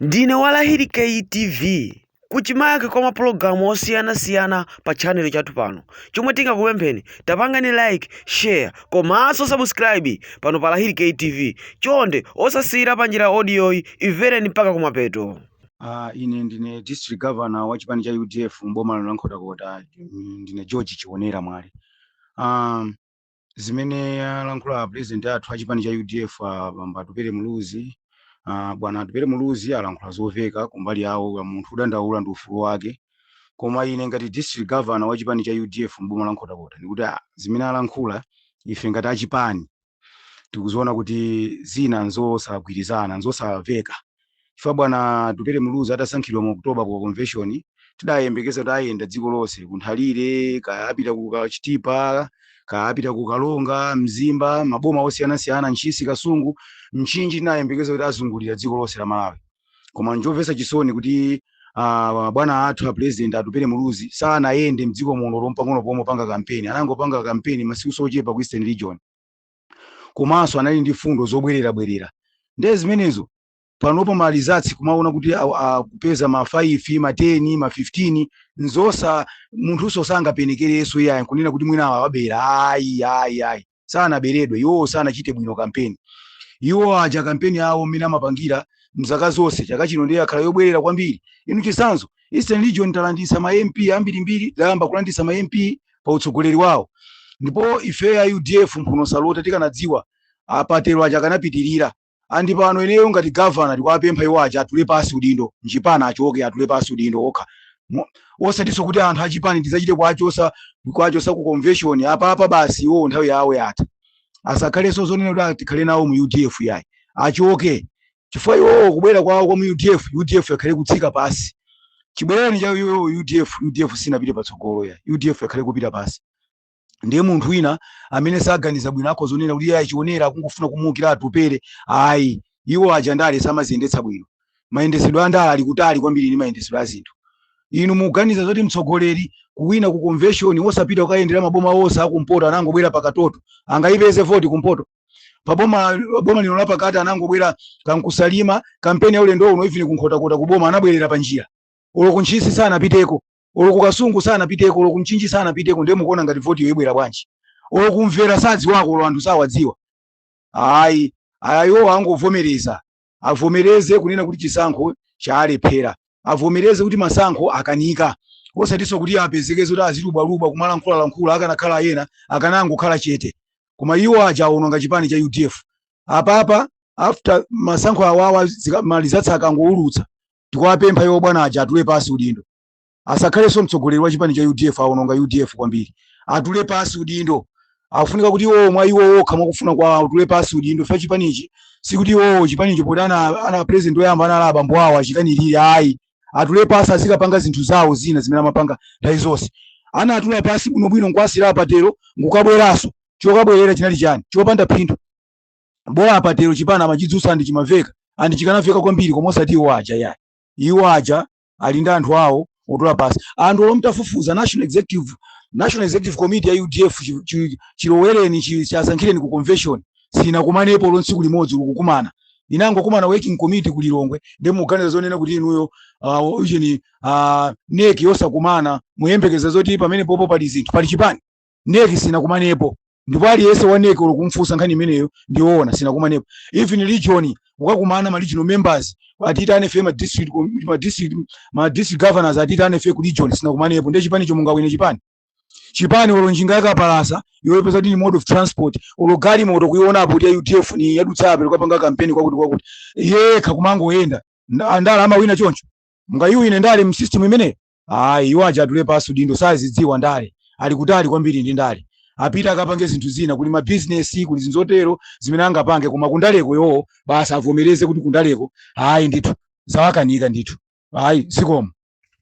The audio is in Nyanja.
Ndine wa Lahiri Kay TV. Kuchimake kwa mapulogalamu osiyanasiyana pa tchanelo chathu pano. Chomwe tingakupempheni, tapangani like, share komanso subscribe pano pa Lahiri Kay TV. Chonde osasiyira panjira odiyoyi, imvereni mpaka kumapeto. Ah, ine ndine district governor wa chipani cha UDF m'boma la Nkhotakota mm, ndine George Chionera Mwale. Um, zimene alankhula president athu achipani cha udf a bambo Atupele muluzi ah, bwana Atupele muluzi alankhula zoveka kumbali yawo munthu udandaula ndi ufulu wake koma ine ngati district governor wa chipani cha udf mboma la nkhotakota ndikuti ah, zimene alankhula ife ngati achipani tikuziona kuti zina nzosagwirizana nzosamveka chifukwa bwana Atupele muluzi atasankhidwa mu oktoba ku convention tidayembekeza kuti ayenda dziko lonse kunthalire kaya apita ku kaChitipa kaya apita ku Karonga mzimba maboma osiyanasiyana ntchisi kasungu mchinji tinayembekeza kuti azungulira dziko lonse la malawi koma njomvetsa chisoni kuti uh, bwana athu a president Atupele muluzi sanayende mdziko muno lompang'ono pomwe kupanga kampeni anangopanga kampeni masiku sochepa ku eastern region komanso anali ndi fundo zobwererabwerera ndiye zimenezo panopa ma results kumaona kuti akupeza ma 5 ma 10 ma 15 nzosa munthuso sangapenekerenso iyayi kunena kuti mwina awabera ayi ayi ayi sanaberedwe iwowo sanachite bwino kampeni iwo aja kampeni awo mmene amapangira mzaka zonse chaka chino ndiye akhala yobwerera kwambiri inu chitsanzo eastern region talanditsa ma mp ambirimbiri tayamba kulanditsa ma mp pa utsogoleri wawo ndipo ife a udf mphuno salota tikanadziwa a Patel aja akanapitirira andi pano ineyo ngati gavana ndikuwapempha iwo aja atule pansi udindo mchipani achoke atule pansi udindo okha Mo- osatinso kuti anthu achipani tidzachite kuwachotsa kuwachotsa ku convention apa apa basi iwo nthawi yawo yatha asakhalenso zonena kuti tikhale nawo mu udf yayi achoke chifukwa iwowo kubwera kwawo kwa mu udf udf yakhala ikutsika pansi chibwereni cha iwowo udf udf sinapite patsogolo yayi udf yakhala ikupita pansi ndiye munthu wina amene saganiza bwino akhoza kunena kuti iye achionera akungofuna kumuukira Atupele ayi iwo aja ndale samaziyendetsa bwino mayendetsedwe a ndale ali kutali kwambiri ndi mayendetsedwe a zinthu inu muganiza zoti mtsogoleri kuwina ku convention osapita kukayendera maboma onse akumpoto anangobwera pa Katoto angayipeze voti kumpoto paboma boma lino lapakati anangobwera kaku Salima kampeni ya ulendo uno even kunkhotakota ku boma anabwerera pa njira olo kuntchisi sanapiteko olo kukasungu sanapiteko olo kumchinji sanapiteko ndiye mukuona ngati votiyo ibwera bwanji olo kummwera sadziwako olo anthu sawadziwa ayi iwo angovomereza avomereze kunena kuti chisankho chalephera avomereze kuti masankho akanika osatinso kuti apezeke zoti azilubwalubwa kumalankhulalankhula akanakhala ena akanangokhala chete koma iwo aja awononga chipani cha udf apapa after masankho awawa malizatsa akangoulutsa tikuwapempha iwo bwana aja atule pasi udindo asakhalenso mtsogoleri wa chipani cha udf aononga udf kwambiri atule pasi udindo akufunika kuti iwowo mwa iwo okha mwakufuna kwawo atule pasi udindo fa chipanichi sikuti iwowo chipanichi poti pa- ana president oyamba anali abambo awo achikanirire ayi atule pasi azikapanga zinthu zawo zina zimene amapanga nthawi zonse ana atula pasi bwinobwino nkuwasiyira apatero nkukabweranso chokabwerera chinali chani chopanda phindu bola apatero chipani amachidzutsa and chimamveka and chikanamveka kwambiri koma osati iwo aja yayi iwo aja ali ndi anthu awo otola pansi anthu olo mtafufuza national executive national executive committee ya udf chi- chi- chilowereni chi- chiasankhireni ku convention sinakumanepo olo tsiku limodzi kukumana inangokumana working committee ku lilongwe nde muganiza zonena kuti inuyo uh, uchini uh, nec yosakumana muyembekeza zoti pamene popo pali zinthu pali chipani nec sinakumanepo ndipo aliyense wa nec olo kumfunsa nkhani imeneyo ndiyoona sinakumanepo even region kukakumana ma regional members atitane fe ma district com- ma district ma district governors atitane fe ku region sinakumanepo ndiye chipani chomwe mungawine chipani chipani olo njinga yakapalasa yoyerekeza kuti ni mode of transport olo galimoto kuionapo kuti ya udf iyi yadutsapo ikukapanga kampeni kwakuti kwakuti yekha kumangoyenda Nda- ndale amawina choncho mungawine ndale msystem imeneyo Ayi, iwo aja atule pansi udindo, sazidziwa ndale, ali kutali kwambiri ndi ndale. Apite akapange zinthu zina, kuli mabizinesi, kuli zinthu zotero zimene angapange, koma kundaleko iwowo basi avomereze kuti kundaleko ayi ndithu zawakanika ndithu. Ayi, zikomo.